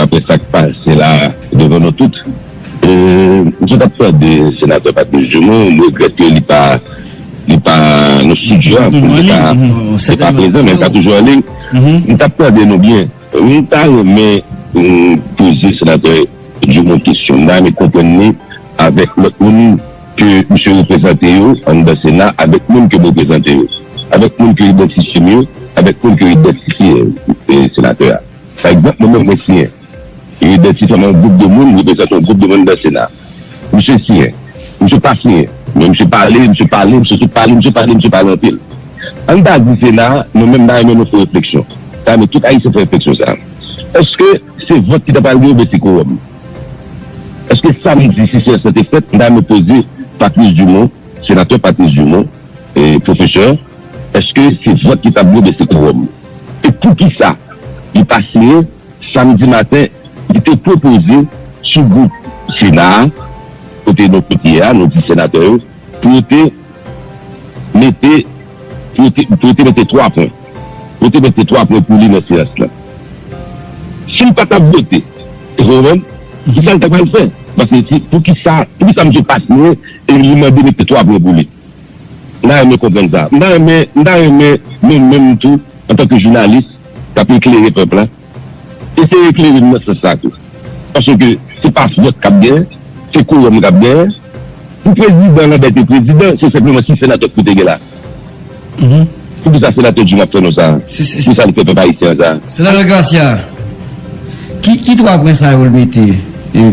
Apre sa k pase la a devan nou tout, m sot ap tande Senatè Patrice Dumont, m regrèt ke li pa nan stidyo a, pou li ta prezan, men li ta toujou an liy, m t ap tande nou byen, m ta renmen poze Senatè Dumont kesyon, m ta renmen konprann li avèk lòt moun. ke misye reprezante yo anndan sena avèk moun ke m reprezante yo, avèk moun ke idantifye m yo, avèk moun ke yo idantifye senatè a. Pa egzanp, mwen menm mwen siyen, yo idantifye m a yon gwoup de moun, m reprezante yon gwoup de moun anndan sena. Misye siyen, misye pa siyen, men misye pale, misye pale, misye sot pale, misye pale, misye pale anpil. Ann ta di sena, mwen menm m ta renmen nou fè refleksyon, m ta renmen tout ayisyen fè refleksyon sa a, èske se vòt ki ta pral gen oubyen se kowòm? Eske sa m di si se sa te fèt, m ta renmen poze Patrice Dumont, Senatè Patrice Dumont, Pwofesè, eske se vòt ki tablo oubyen se kowòm? E poukisa li pa siyen samdi maten li te pwopoze sougwoup Sena a, kote nou tout ye a, nou 10 Senatè yo, Fwote, mete, fwote, fwote mete 3 pwen. Fwote mete 3 pwen pou li nan seyans lan. Si l pa t ap vote, èske w konprann, ki sa l ta pral fè? Paske si, poukisa, poukisa misye pa siyen e li mande mete 3 pwen pou li? M ta renmen konprann sa. M ta renmen, m ta renmen nou menm tou, antanke jounalis k ap eklere pèp la, Eseye klere m nan sans sa tou. Paske se pa vòt k ap genyen, se kowòm k ap genyen. Pou prezidan Lanbè te prezidan, se senpleman 6 senatè k pou te gen la. Poukisa senatè Jim ap fè non sa a? Poukisa li fè pèp ayisyen an sa a? Senatè Garcia, ki 3 pwen sa yo l mete?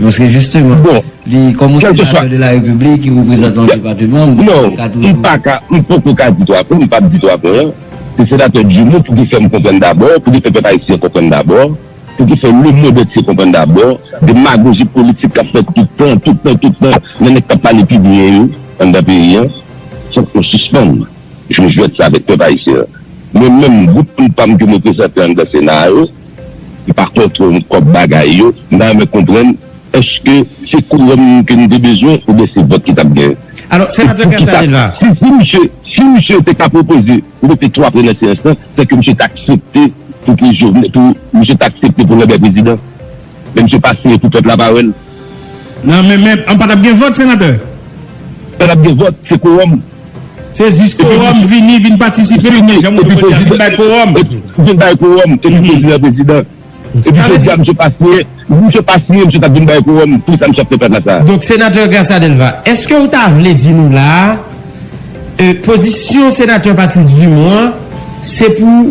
Paske jisteman, li kòm yon senatè de la repiblik ki reprezante yon depateman, m pa ka tou. M poko ka di 3 pwen, m pap di 3 pwen an. Se Senatè Joumou pou ki fè m konprann dabò, pou ki fè pèp ayisyen konprann dabò, pou ki fè lemondantye konprann dabò, demagoji politik k ap fèt tout tan, tout tan, tout tan, nan nèg k ap pale pi byen yo anndan peyi an. Fòk nou sispann jwe jwèt sa avèk pèp ayisyen an. Mwen menm, gwoup moun pa m ke mwen prezante anndan Sena a yo, M pa kontr kòb bagay yo, m ta renmen konprann eske se kouwòm ke nou te bezwen oubyen se vòt ki t ap gen? Alò, Senatè Casaneva. Si misye te ka pwopoze pou mete 3 pre nan seyans lan, sè ke misye t aksepte pou misye t aksepte pou Lambert prezidan, men misye pa siyen pou pèp la pa wè l. Nan men men an pa tap gen vòt senatè? Pa tap gen vòt, se kowòm. Se jis kowòm vini, vin patisipe nan pwogram ou te pote a, vin bay kowòm. Vin bay kowòm epi pote nan prezidan. Epi jodi a misye pa siyen, si misye pa siyen misye tap vin bay kowòm pou sa misye ap fè plapla sa a. Donk senatè Gracia Delva, eske ou ta vle di nou la a, pozisyon senatè Patrice Dumont an se pou.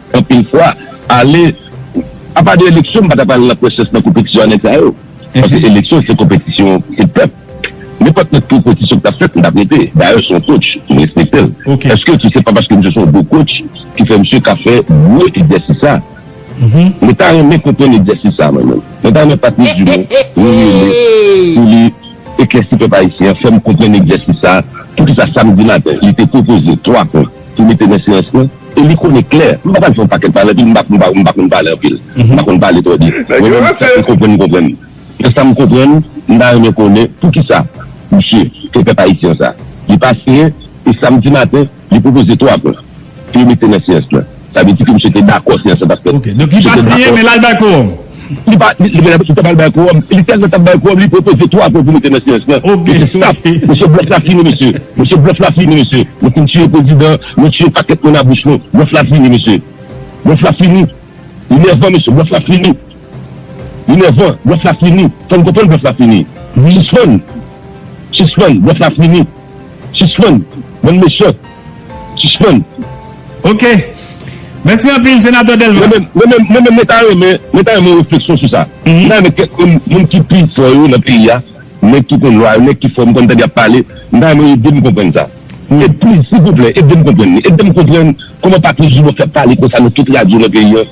Anpil fwa, ale, apa de eleksyon m pa ta pral nan presans nan konpetisyon a nèg sa yo. Paske eleksyon se konpetisyon se pèp. Nenpòt lòt konpetisyon ki ta fèt m tap rete. Dayè se yon coach, m respekte l. Eske se se pa paske misye se yon bon coach ki fè misye ka fè gwo egzèsis sa? Mwen ta renmen konprann egzèsis sa mwen menm. Mwen ta renmen Patrice Dumont rele pou li eklèsi pèp ayisyen an, fè m konprann egzèsis sa, poukisa samdi maten li te pwopoze 3 pwen. ki mete men silans lan e li konnen klè m pa pral fè yon pakèt pale anpil m pa m pa konn pale anpil m pa konn pale twò di mwen menm sa m konprann m konprann men sa m konprann m ta renmen konnen poukisa misye fè pèp ayisyen sa li pa siyen e samdi maten li pwopoze 3 pwen pou yo mete nan siyans lan sa vle di ke misye te dakò siyans lan t ap fèt ok donk li pa siyen men l al bay kowòm. Li pa, li, li menm, li ta pral bay kowòm. Li tèlman t ap bay kowòm, li pwopoze twa fwa pou mete nan syèj lan. Ok, Mesye, stop! ok. Mesye, blòf la fini, mesye. Mesye, blòf la fini, mesye. Nou fin tiye prezidan, nou tiye pakèt moun a bouch nou. Blòf la fini, mesye. Blòf la fini. Li nèvan, mesye. Blòf la fini. Li nèvan. Blòf la fini. Fè m konprann blòf la fini. Wi. Sispann! Sispann! Blòf la fini. Sispann! Bann mechan! Sispann. Ok. Mèsi anpil, Senatè Dèlma. Mwen menm, mwen menm mwen ta renmen, mwen ta renmen yon refleksyon sou sa. Mwen ta renmen kèk moun, moun ki pi fò yo nan peyi a, nèg ki konn lwa yo, nèg ki fò, m konn tande y ap pale, m ta renmen yo ede m konprann sa. E pliz, silvouplè, ede m konprann li. Ede m konprann kòman Patrice Dumont fè pale konsa nan tout radyo nan peyi an,